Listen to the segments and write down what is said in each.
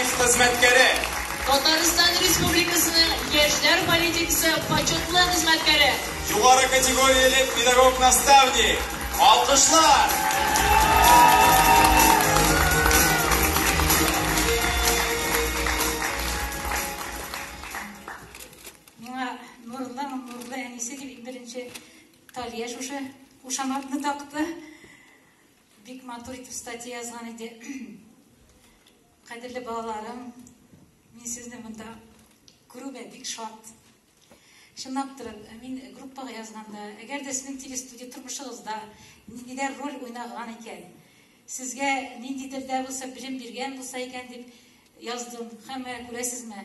Ев хезмәткәре. Татарстан Республикасының яшьләр политикасы почетлы хезмәткәре. Югары категорияле педагог-наставник. Алкышлар! Миңа нурлы, нурлы әнисе дип иң беренче Талия шушы кушаматны такты. Бик матур итеп статья язган иде. Кадерле балаларым, мин сезне монда күрүгә бик шат. Чынлап торып, мин группага язганда, әгәр дә сезнең телестудия тормышыгызда ниндидер роль уйнаган икән, сезгә ниндидер дә булса белем биргән булса икән дип яздым. Һәм күрәсезме,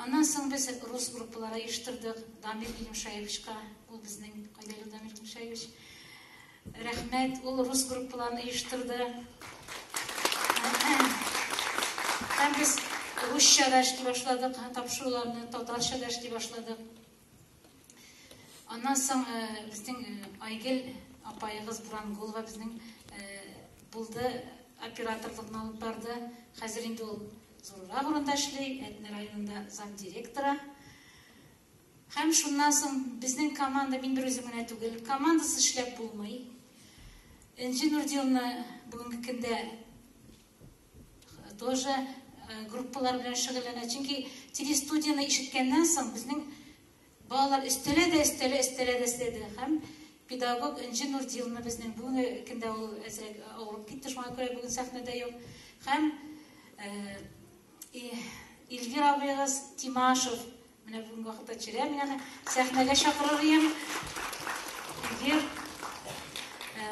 Аннан соң без рус группалары оештырдык. Дамир Илемшаевичка, ул безнең кайда ул Дамир Илемшаевич? Рәхмәт, ул рус группаларын оештырды. Һәм без русча да эшли башладык, тапшыруларны татарча да эшли башладык. Аннан соң э, безнең э, Айгел апаегыз Бурангулова безнең э, булды, операторлыкны алып барды. Хәзер инде ул зуррак урында эшли, Әтнә районында замдиректора. Һәм шуннан соң безнең команда, мин бер үзем генә түгел, командасы эшләп булмый. Энҗе Нурдиловна бүгенге көндә тоже э, группалар белән шөгыльләнә. Чөнки телестудияне ишеткәннән соң безнең балалар өстәлә дә өстәлә өстәлә дә өстәде һәм педагог Энҗе Нурдиловна безнең бүгенге көндә ул әзрәк авырып китте, шуңа күрә бүген сәхнәдә юк. Һәм э, Илгир абыегыз Тимашев менә бүгенге вакытта чирә менә сәхнәгә чакырыр идем. Илгир э,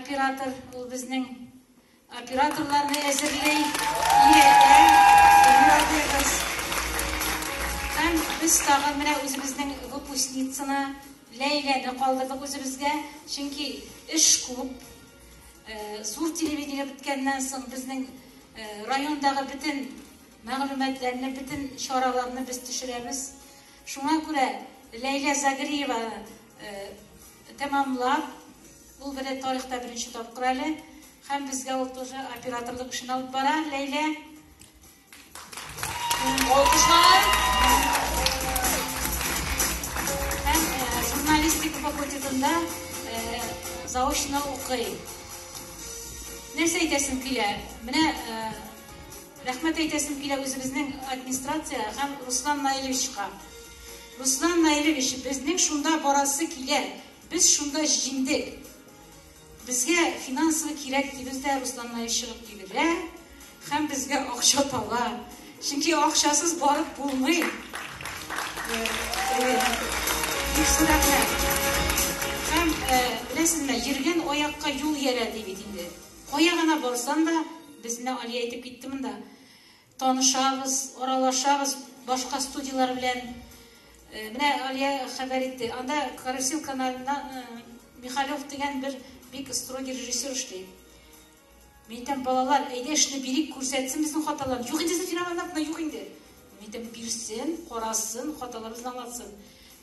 оператор ул безнең Операторларны әзерли ирекле Гөлнур абыегыз. Һәм без тагын менә үзебезнең выпускницаны Ләйләне калдырдык үзебезгә, чөнки эш күп. Э, зур телевидение беткәннән соң безнең э, райондагы бөтен мәгълүматларны, бөтен чараларны без төшерәбез. Шуңа күрә Ләйлә Загриева э, тәмамлап Ул бер дә тарихта беренче тапкыр әле. Һәм безгә ул тоже операторлык эшен алып бара. Ләйлә. Алкышлар. Һәм э, журналистика факультетында э, заочно укый. Нәрсә әйтәсем килә? Менә э, рәхмәт әйтәсем килә үзебезнең администрация һәм Руслан Наилевичка. Руслан Наилевич, безнең шунда барасы килә. Без шунда җиңдек. Безгә финансовый кирәк дибез дә, Руслан Наил чыгып килерә һәм безгә акча таба. Чөнки акчасыз барып булмый. Һәм беләсезме, йөргән аякка юл иярә ди бит инде. Кая гына барсам да, безне Алия әйтеп китте монда. Танышабыз, аралашабыз башка студияләр белән. Э, менә Алия хәбәр итте. Анда Карасил каналында э, Михалев дигән бер бик строгий режиссер эшли. Мин әйтәм, балалар, әйдә эшне бирик, күрсәтсен безнең хаталарны. Юк инде фирмаларда юк инде. Мин әйтәм, бирсен, карасын, хаталарыбызны аңлатсын.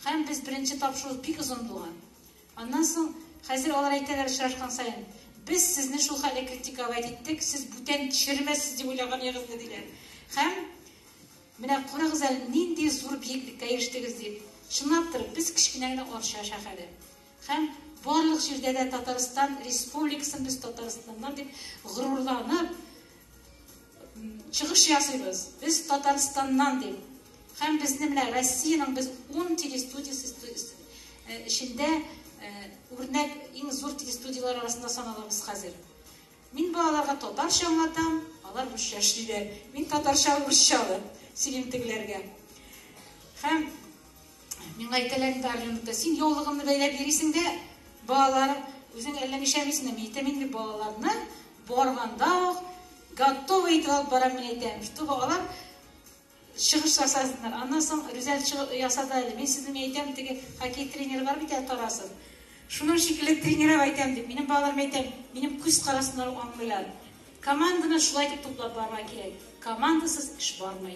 Һәм без беренче тапшыру бик озын булган. Аннан соң, хәзер алар әйтәләр очрашкан саен, без сезне шул хәлдә критиковать иттек, сез бүтән төшермәссез дип уйлаган ягызны, диләр. Һәм менә карагыз әле, нинди зур биеклеккә ирештегез дип. Чынлаптыр, без кечкенә генә Арча шәһәре. Һәм барлык җирдә дә Татарстан республикасын без Татарстаннан дип горурланып, Чыгыш ясыйбыз. Без Татарстаннан дип. Һәм безне менә Россиянең без 10 телестудиясе э, эчендә э, үрнәк иң зур телестудияләр арасында саналабыз хәзер. Мин балаларга татарча аңлатам, алар русча эшлиләр. Мин татарча русча сөйлим тегеләргә. Һәм мин әйтәләр инде Арленукта, син яулыгымны бәйләп йөрисең дә, балалар үзең әллә нишәмисең, мин әйтәм инде балаларны Барганда ук готовый итеп алып барам мин әйтәм, чтобы алар чыгыш ясасыннар. Аннан соң Рүзәл чыгыш ясады әле. Мин сезне мин әйтәм, теге хоккей тренеры бар бит әле Тарасов. Шуның шикелле тренерап әйтәм дип, минем балаларым әйтәм, минем күз карасыннан ук аңлыйлар. Команданы шулай итеп туплап барырга кирәк. Командасыз эш бармый.